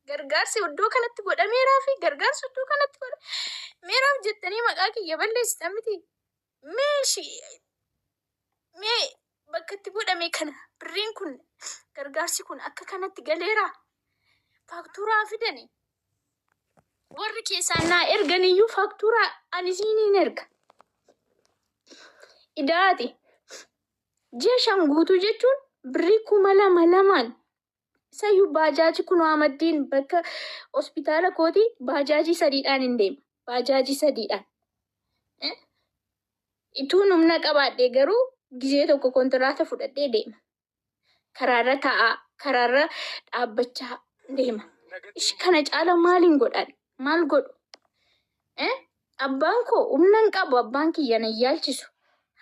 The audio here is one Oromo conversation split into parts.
gargaarsi iddoo kanatti godhameeraa fi gargaarsi iddoo kanatti godhameeraaf jettanii maqaa kiyya balleessitan miti. Mee shi- mee bakka itti godhame kana birriin kun gargaarsi kun akka kanatti galeeraa faaktuuraa fidani. Warri keessaan naa erganiyyuu faaktuuraa ani siiniin erga. Idaati. Ji'a shan guutuu jechuun birrii kuma lama lamaan Sayyuu baajaaji kunoo amaddiin bakka hospitaala kooti baajaajii sadiidhaan hin deema. Baajaajii sadiidhaan. Eh? Ituun humna qabaadhee garuu gizee tokko kontiraata fudhadhee deema. Karaarra taa'aa, karaarra dhaabbachaa deema. Ishi kana caala maaliin godhaan? Maal godhu? Eh? Abbaan koo humna hin qabu, abbaan kiyya na hin yaalchisu.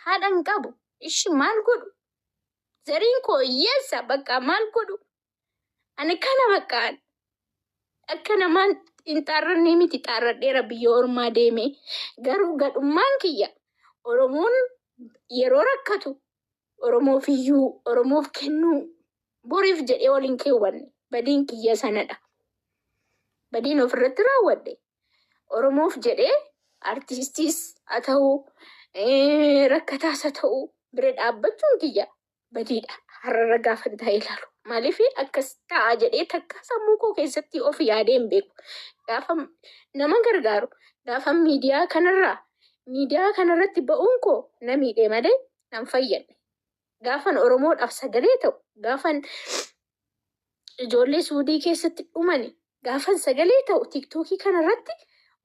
Haadha hin qabu. Ishi maal godhu? Zariin koo hiyyeessa bakka maal godhu? Ani kana bakka akka namaan hin xaarrannee miti xaarradheera biyya ormaa deemee. Garuu gadhummaan kiyya Oromoon yeroo rakkatu Oromoof iyyuu Oromoof kennuu boriif jedhee ol hin keewwanne. Badiin kiyya sanadha. Badiin ofirratti raawwadhe Oromoof jedhee artistiis haa ta'u, eh, rakkataas haa ta'u bira dhaabbachuun kiyya badiidha. Har'arra gaafan taa'ee ilaalu. Maaliif akkas ta'a jedhee takka sammuu koo keessatti of yaadee hin beeku. Gaafa nama gargaaru, gaafa miidiyaa kanarraa miidiyaa kanarratti ba'uun koo na miidhe malee nan fayyadne. gaafan Oromoodhaaf sagalee ta'u, gaafan ijoollee Suudii keessatti dhumani gaafan sagalee ta'u TikTok kanarratti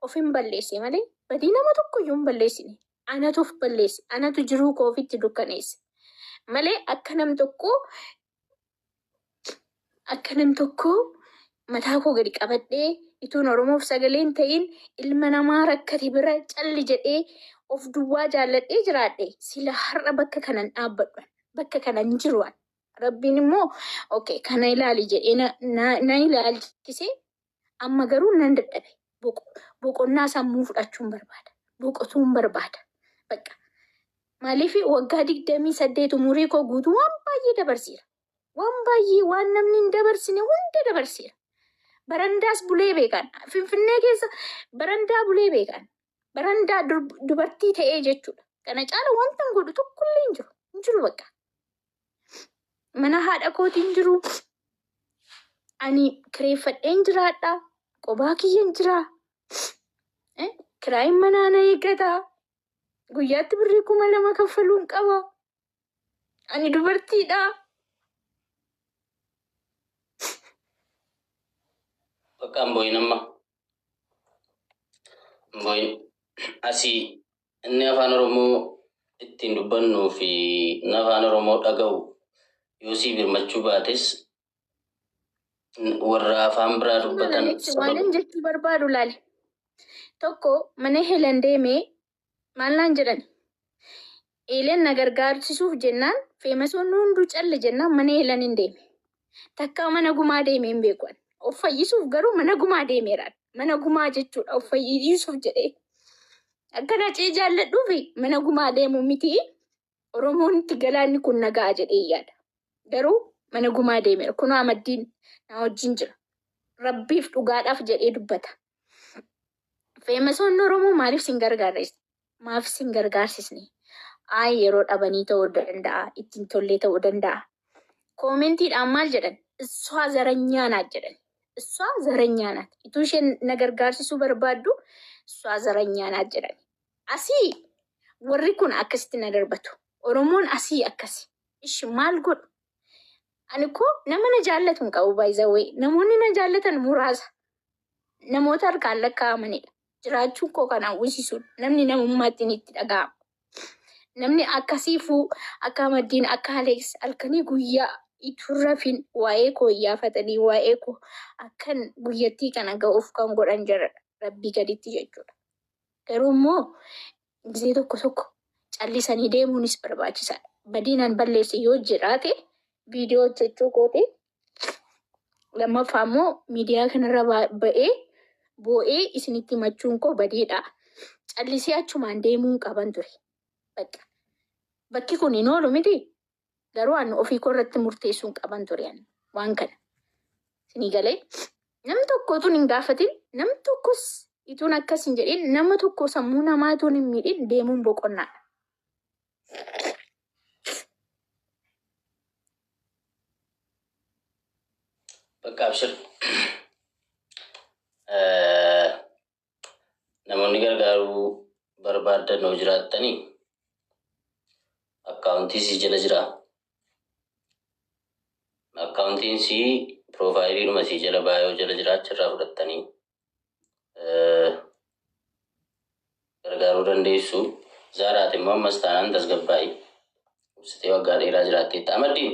ofin balleesse malee badii nama tokkoyyuu hin balleessine. Anatu of balleesse, anatu jiruu koo ofitti dukkaneesse malee akka nam tokkoo akka nam tokko mataa koo gadi qabadhee ituun Oromoof sagaleen ta'in ilma namaa rakkate bira calli jedhee of duwwaa jaalladhee jiraadhe sila har'a bakka kanan dhaabbadhu bakka kanan jiru rabbiin immoo okay kana ilaali jedhee na, na, na ilaalchisee Amma garuu nan dadhabe. Boqo- Boqonnaa sammuu fudhachuun barbaada. Boqotuun barbaada. Bakka. Maaliif waggaa digdamii saddeet umurii koo guutuu waan baay'ee dabarseera. Waan baay'ee waan namni hin dabarsine hunda dabarseera. Barandaas bulee beekan. Finfinnee keessa barandaa bulee beekan. Barandaa dur- dubartii ta'ee jechuudha. Kana caala wanta hin godhu tokkollee hin jiru. Hin jiru bakka. mana haadha kootiin jiru ani kireeffadheen jiraadha qobaa kiyyan jira Eh, kiraayin manaa na eeggata guyyaatti birrii kuma lama kaffaluun qaba ani dubartiidha Bakka hin boo'in amma. Hin boo'in. Asii Inni afaan Oromoo ittiin dubbannuu fi inni afaan Oromoo dhaga'u yoo sii birmachuu baates warra afaan biraa dubbatan waanin jechuu barbaadu laali. Tokko mana Heelen deemee maal naan jedhani? Heelen na gargaarsisuuf jennaan feemasoonni hunduu calli jennaan mana Heeleniin deeme. Takkaa mana gumaa deemee hin beeku ani. Of fayyisuuf garuu mana gumaa deemeeraan. Mana gumaa jechuudha of fayyisuuf jedhee. Akkan hacee jaalladhuufi mana gumaa deemuu miti. Oromoon itti galaanni kun nagaa jedhee yaada. Garuu mana gumaa deemeera. Kunoo amaddiin na wajjin jira. Rabbiif dhugaadhaaf jedhee dubbata. Feemasoonni Oromoo maaliif sin gargaarrees? maaf sin gargaarsisne? Ayi yeroo dhabanii ta'uu danda'a, itti hin tollee ta'uu danda'a. Koomentiidhaan maal jedhan? Issaa zaranyaa naat jedhan. Issaa zaranyaa naat. Ituu isheen na gargaarsisuu barbaaddu issaa zaranyaa naat jedhan. Asii warri kun akkasitti na darbatu. Oromoon asii akkasi. Ishi maal godhu? Ani koo nama na jaallatu hin qabu baay'izawee. Namoonni na jaallatan muraasa. Namoota harkaan lakkaa'amanidha. jiraachuun koo kan hawwisiisudha. Namni namummaattiin itti dhaga'ama. Namni akka Siifuu, akka Amaddiin, akka Aleeks halkanii guyyaa ituu hin rafin waa'ee koo iyyaafatanii waa'ee koo akkan guyyattii kana ga'uuf kan godhan jaradha. Rabbii gaditti jechuudha. Garuu immoo Gizee tokko tokko callisanii deemuunis barbaachisaadha. Badiin an balleesse yoo jiraate viidiyoo hojjechuu kooti. Lammaffaa immoo miidiyaa kanarra ba- ba'ee boo'ee isinitti himachuun koo badiidha. Callisee achumaan deemuun qaban ture. Bakka. Bakki kun hin oolu miti. Garuu an ofii koo irratti murteessuun qaban ture an waan kana. Sinii galee nam tokko utuun hin gaafatin nam tokkos ituun akkas hin jedhin nama tokko sammuu namaa ituun hin miidhin deemuun boqonnaadha. Bakka abshir. Namoonni gargaaruu barbaaddan yoo jiraattanii akkaawuntii sii jala jira. Akkaawuntiin sii piroofaayiliidhuma sii jala baayoo jala jira achirraa fudhattanii gargaaruu dandeessu. Zaaraati immoo ammas taanaan tasgabbaa'ii. Ibsitee waggaa dheeraa jiraatteetta. Amaddiin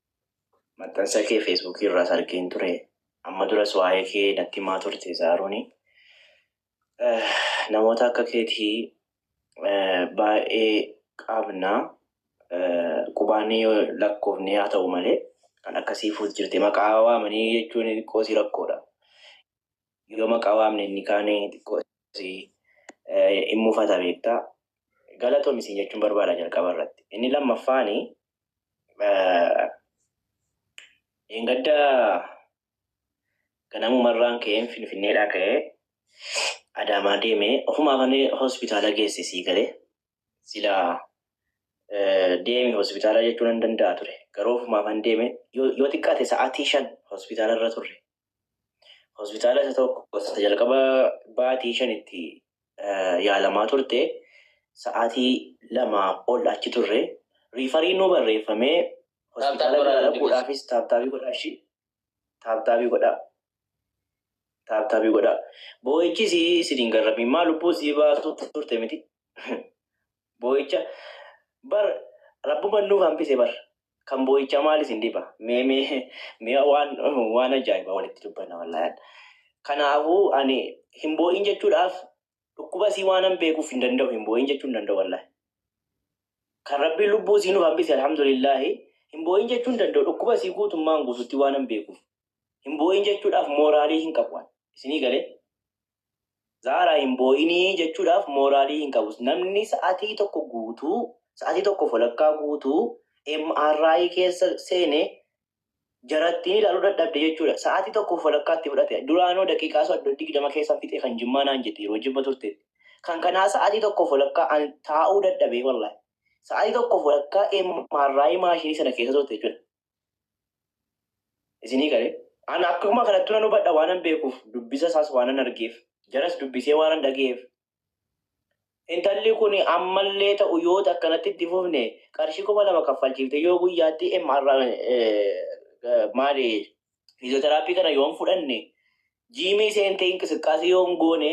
Maxxansa kee Facebook irraas argeen ture. Amma duras waa'ee kee natti himaa turte Zaarooni. Namoota akka keetii baay'ee qabna. Qubaanii yoo lakkoofne haa ta'u malee kan akkasii fuut jirte maqaa waamanii jechuun xiqqoo si rakkoodha. Yoo maqaa waamne inni kaan xiqqoo si hin mufata beektaa. Galatoomi siin jechuun barbaada jalqaba irratti. Inni lammaffaani Dheengadda ganamumarraan ka'een Finfinneedhaa ka'ee Adaamaa deemee ofumaa kan hospitaala geesse sii galee silaa deemi hospitaala jechuu nan danda'a ture. Garuu ofumaa kan deeme yoo xiqqaate sa'aatii shan hospitaala irra turre Hospitaala isa tokko isa jalqaba baatii shanitti yaalamaa turte sa'aatii lamaa ol achi turre riifarii nu barreeffamee hospitaala biraa dhaquudhaafis taaptaabii godhaa ishii taaptaabii godhaa taaptaabii godhaa boo'ichis isin hin garrabin maa lubbuu sii baasuu turte miti Boo'icha bar rabbuman nuuf hambise bar kan boo'ichaa maal isin dhiba mee mee mee waan waan ajaa'ibaa walitti dubbanna wallaahi kanaafuu ani hin boo'in jechuudhaaf dhukkuba isii waanan beekuuf hin danda'u hin boo'in jechuu hin danda'u wallaahi kan rabbiin lubbuu isii nuuf hambise alhamdulillaahi hin boo'in jechuu hin danda'u dhukkuba isii guutummaan guututti waanan beekuuf hin boo'in jechuudhaaf mooraalii hin qabu waan isinii galee Zahra hin boo'inii jechuudhaaf mooraalii hin qabu. Namni sa'atii tokko guutuu, sa'atii tokko folakkaa guutuu MRI keessa seene jarattiin ilaaluu dadhabde jechuudha. Sa'atii tokko folakkaatti fudhate. Duraanoo daqiiqaa soddo digdama keessan fixe kan jimmaa naan jette yeroo jimma turte. Kan kanaa sa'atii tokko folakkaa an taa'uu dadhabee wallahi. Sa'atii tokko folakkaa MRI maashinii sana keessa turte jechuudha. Isinii galee? An akkuma kanattu nan hubadha waanan beekuuf, dubbisa isaas waanan argeef, jaras dubbisee waanan dhaga'eef. Intalli kun ammallee ta'u yoo akkanatti itti fufne qarshii kuma lama kaffalchiiftee yoo guyyaatti MR maali fiiziyooteraappii kana yoon fudhanne jiimii seentee inqisqqaasii yoon goone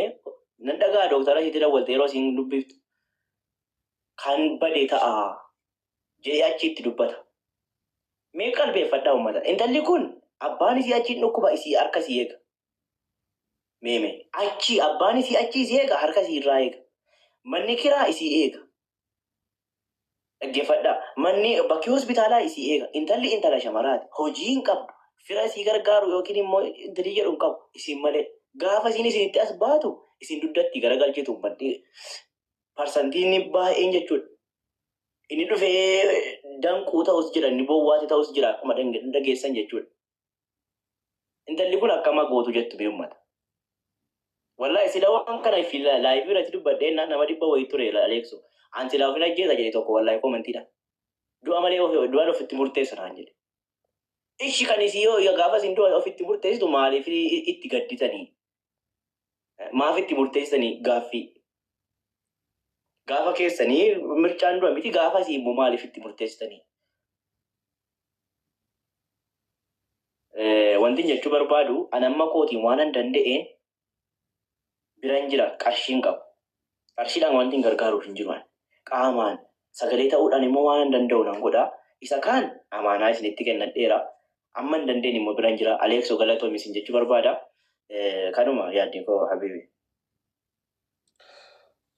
nan dhaga'a dooktara ishiitti dawwaltee yeroo isiin dubbiftu kan bade ta'a. jedhee achii itti dubbata. Mee qalbeeffadhaa ummata. Intalli kun abbaan isii achiin dhukkuba isii harka isii eega. Mee mee achii abbaan isii achii isii eega harka isii irraa eega. Manni kiraa isii eega. Dhaggeeffadhaa. Manni bakki hospitaalaa isii eega. Intalli intala shamaraati. Hojii hin qabdu. Fira isii gargaaru yookiin immoo intalii jedhu hin qabu. Isin malee. Gaafa isiin isinitti as baatu isin dugdatti garagalchitu ummanni parsantii inni baay'een jechuudha. Inni dhufee danquu ta'us jira, inni bowwaate ta'us jira akkuma dange- dhageessan jechuudha. Intalli kun akkama gootu jettu mee ummata. Wallahi sila waan kana fi laayivii irratti dubbadhee na- nama dhibba wayii ture la- aleeksu. An silaa ofin ajjeesa jedhe tokko wallahi komantiidha. Du'a malee of- du'aan ofitti murteessa naan jedhe. Ishi kan isii yoo yoo gaafas hin du'a ofitti murteessitu maaliif i- itti gadditanii? maaf itti murteessanii gaaffii gaafa keessanii mircaan dura miti gaafa isii immoo maaliif itti murteessitanii Eh, wantin jechuu barbaadu an amma kootiin waan an danda'een biran jira qarshiin qabu Qarshiidhaan wanti hin gargaaruuf hin jiru ani. Qaamaan, sagalee ta'uudhaan immoo waanan danda'u nan godha. Isa kaan amaanaa isinitti kennadheera. Amma hin dandeenye immoo biran jira. Aleekso galatoomi isin jechuu barbaada. Kanuma yaadni koo habiibi.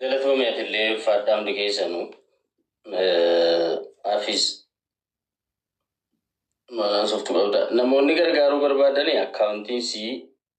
Galatoomi atillee ulfaadhaa hundi keessanu. Hafiz maal haasoftu qabda? Namoonni gargaaruu barbaadani akkaawuntiin sii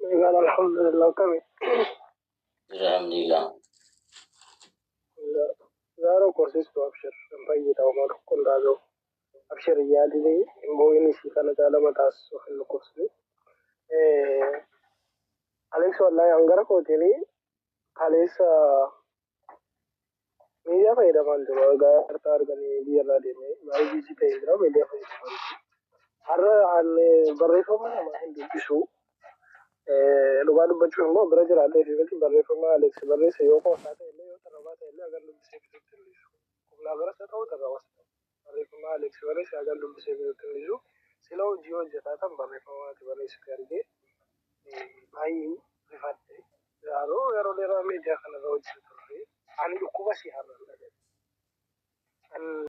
Nagaan alhamdulillah akkami. Jira alhamdulillah. Zaaro korsistu abshir hin fayyita homaa tokko hin taatu. Abshir hin yaadini hin boo'ini si kana caala mataas of hin dhukkubsini. Aleeks wallahi hangara kootini kaleessa Miidiyaa fayyadamaan ture erga harka arganii biyya irraa deemee baay'ee biizii ta'ee jira miidiyaa fayyadamaan ture. Har'a ani barreeffama namaa hin dubbisu. Eh, Dhugaa dubbachuuf immoo bira jiraadhee fi miti barreeffama Aleeksi barreesse yoo qoosaa ta'e illee yoo tarrabaa ta'e illee agan dubbisee fixutti hin dhiisu. Qubnaa baras haa ta'u tarrabas haa ta'u. Barreeffama Alex barreesse hagan dubbisee fixutti hin dhiisu. Sila hojii hojjetaatan barreeffama ati barreessite argee baay'een rifadhe. Garuu yeroo dheeraa miidiyaa kanarra hojjeta turre. Ani dhukkuba si har'an dhaga'e. An